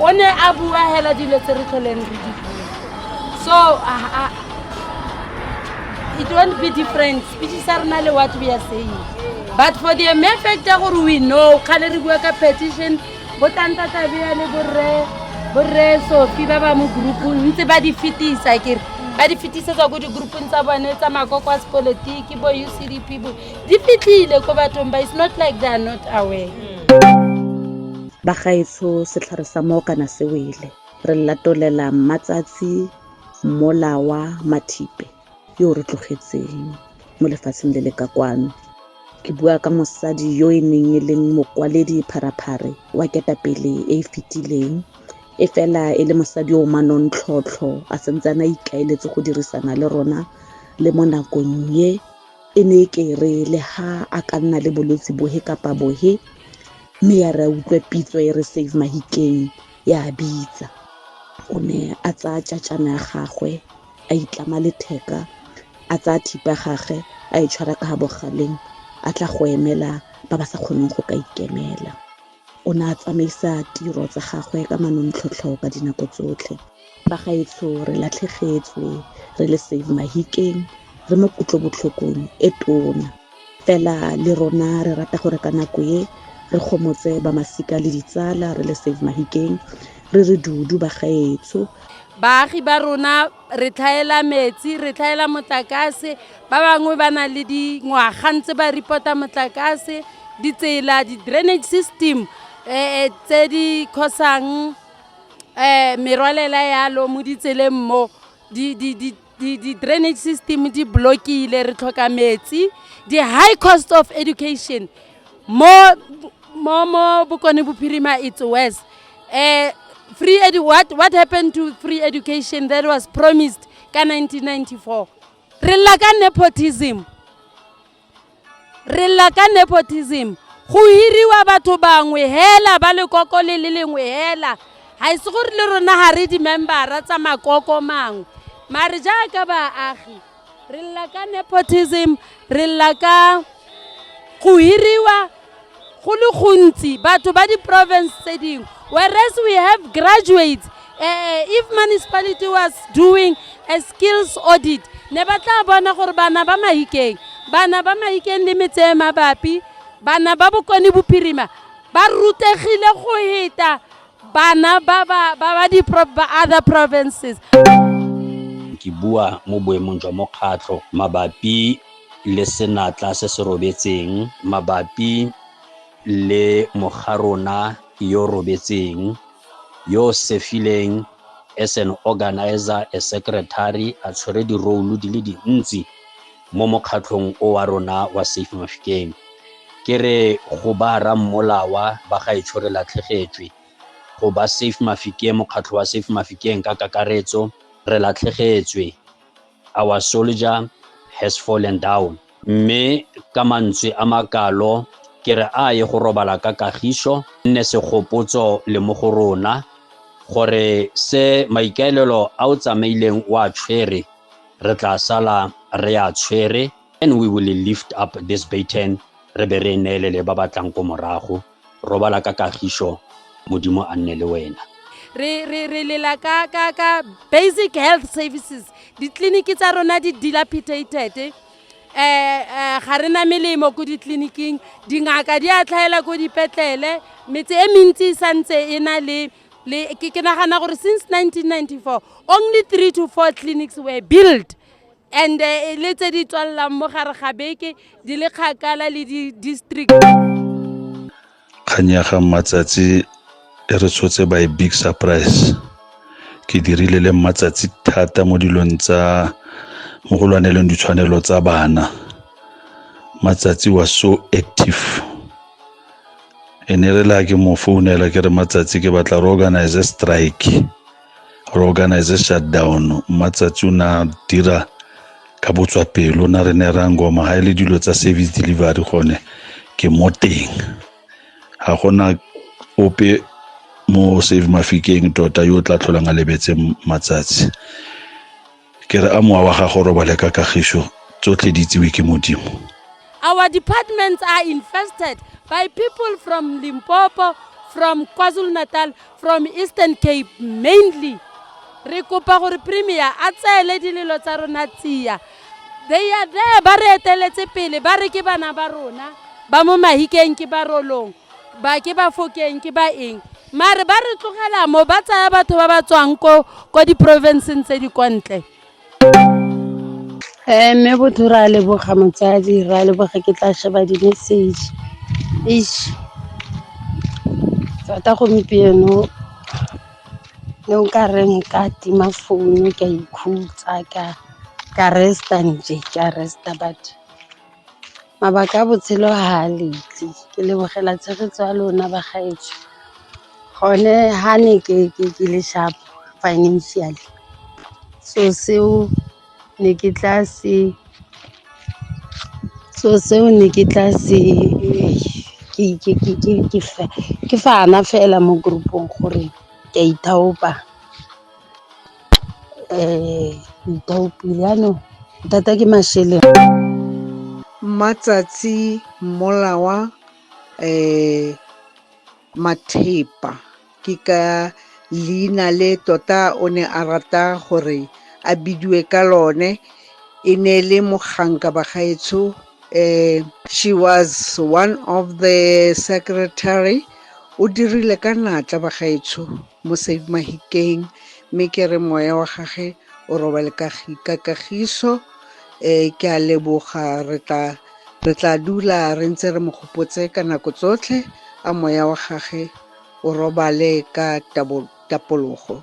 o ne a bua hela dilo tse re tlholeng re di bua so ah, ah, it won't be different speech sa rena le what we are saying but for the mere fact ya gore we know kgale re bua ka petition bo tantatabea le borre borre sofi ba ba mo groupong ntse ba di fetisa kere ba di fetisetsa ko di-groupong tsa bone tsa makoko a sepolotiki bo ucdp bo di fitlhile ko bathong ba is not like they are not aware bagaetsho setlhare sa moo kana se wele re latolela mmatsatsi mola wa mathipe yo o re tlogetseng mo lefatsheng le le ka kwano ke bua ka mosadi yo e neng e leng mokwaledi pharaphare wa ketapele e e fetileng e fela e le mosadi o manontlhotlho a sentse a na ikaeletse go dirisana le rona le mo nakong ye E ne e ke re le ha a ka nna le bolwetse bohe kapa bohe mme ya re a utlwe pitso e re save mahikeng ya bitsa o ne a tsaya tšatšana ya gagwe a itlama letheka a tsaya thipa gage a e tshwara ka ga bogaleng a tla go emela ba ba sa kgoneng go ka ikemela O ne a tsamaisa tiro tsa gagwe ka manontlhotlho ka dinako tsotlhe. Bagaetsho re latlhegetswe re le Save Mahikeng re mo kutlobotlhokong e tona. Fela le rona re rata gore ka nako e re gomotse ba masika le ditsala re le Save Mahikeng re re dudu bagaetsho. Baagi ba rona re tlhaela metsi re tlhaela motlakase ba bangwe ba na le dingwaga ntse ba reporta motlakase ditsela di-drainage system um tse di khosang um merwalela yalo mo ditseleng mo di-drainage system di block-ile re tlhoka metsi di-high cost of education Mo mo mo Bokone Bophirima it's worse. Uh, free edu what what happened to free education that was promised ka 1994? Re lla ka nepotism. Re lla ka nepotism. Go hiriwa batho bangwe hela ba lekoko le le lengwe hela. Ga ise gore le rona ga re di-membera tsa makoko mangwe. Mare jaaka baagi re lla ka nepotism re lla ka go hiriwa go le gontsi batho ba di-province tse dingwe whereas we have graduates uh, if municipality was doing a skills audit ne ba tla bona gore bana ba mahikeng bana ba mahikeng le metse e mabapi bana ba bokone bophirima ba rutegile go heta bana ba ba ba ba di pro- ba other provinces ke bua mo boemong jwa mokgatlho mabapi le senatla se se robetseng mabapi le mogarona yo robetseng yo sefileng as an organizer a secretary a tshwere di-role di le dintsi mo mokgatlhong o wa rona wa Save Mafikeng. Ke re go ba ra mmolawa ba ga e tshore latlhegetswe go ba Save Mafikeng mokgatlho wa Save Mafikeng ka kakaretso re latlhegetswe our soldier has fallen down mme ka mantswe a makalo ke re a ye go robala ka kagiso nne segopotso le mo go rona gore se maikaelelo a o tsamaileng wa tshwere re tla sala re a tshwere and we will lift up this baton re be re neelele ba ba tlang ko morago robala ka kagiso modimo a nne le wena re re re lela ka ka ka basic health services ditleliniki tsa rona di dilapidated eh eh ga re na melemo ko ditleliniking dingaka di a tlhaela ko dipetlele metse e mentsi e santse e na le Le, ke, ke nagana gore since 1994 only three to four clinics were built and eh, le tse di tswalelang mo gare ga beke di le kgakala le di-district kgang ya ga mmatsatsi e re tshotse by big surprise ke dirile le mmatsatsi thata mo dilong tsa mo go lwaneleng ditshwanelo tsa bana matsatsi was so active e ne re la ke mo founela ke re matsatsi ke batla re organize strike re organize shutdown matsatsi o na dira ka botswa pelo na re ne ra ngoma ga e le dilo tsa service delivery gone ke mo teng ga gona ope mo save mafikeng tota yo o tla tlholang a lebetse matsatsi Ke re a mowa wa gago robale ka kagišo, tsotlhe di itsewe ke Modimo. Our departments are infested by people from Limpopo, from KwaZulu-Natal, from Eastern Cape mainly. Re kopa gore premier a tseele dilelo tsa rona tsia. They are there ba re eteletse pele ba re ke bana ba rona ba mo mahikeng ke ba rolong. ba ke ba fokeng ke ba eng mare ba re tlogela mo ba tsaya batho ba ba tswang ko ko diprovinceng tse di kwa ntle um mme botho re a leboga motsadi re a leboga ke tla sheba di-message eish tota gompieno ne o ka re nka tima founu ka ikhutsa ka ka resta nje ka resta batho Mabaka a botshelo ha a letli, ke lebogela tshegetso ya lona bagaetsho. Gone ha ne ke le sharp financially so seo ne ke tla se, so seo ne ke tla se ke fana fela mo group-ong gore ke a ithaopa. Mmatsatsi mmolawa Mathepa ke ka leina le tota o ne a rata gore a bidiwe ka lone, e ne e le moganka bagaetsho. Eh, she was one of the secretary o dirile ka natla bagaetsho mo save mahikeng mme ke re moya wa gage o robale ka kagiso um ke a leboga re tla re tla dula re ntse re mo gopotse ka nako tsotlhe a moya wa gage o robale ka tapologo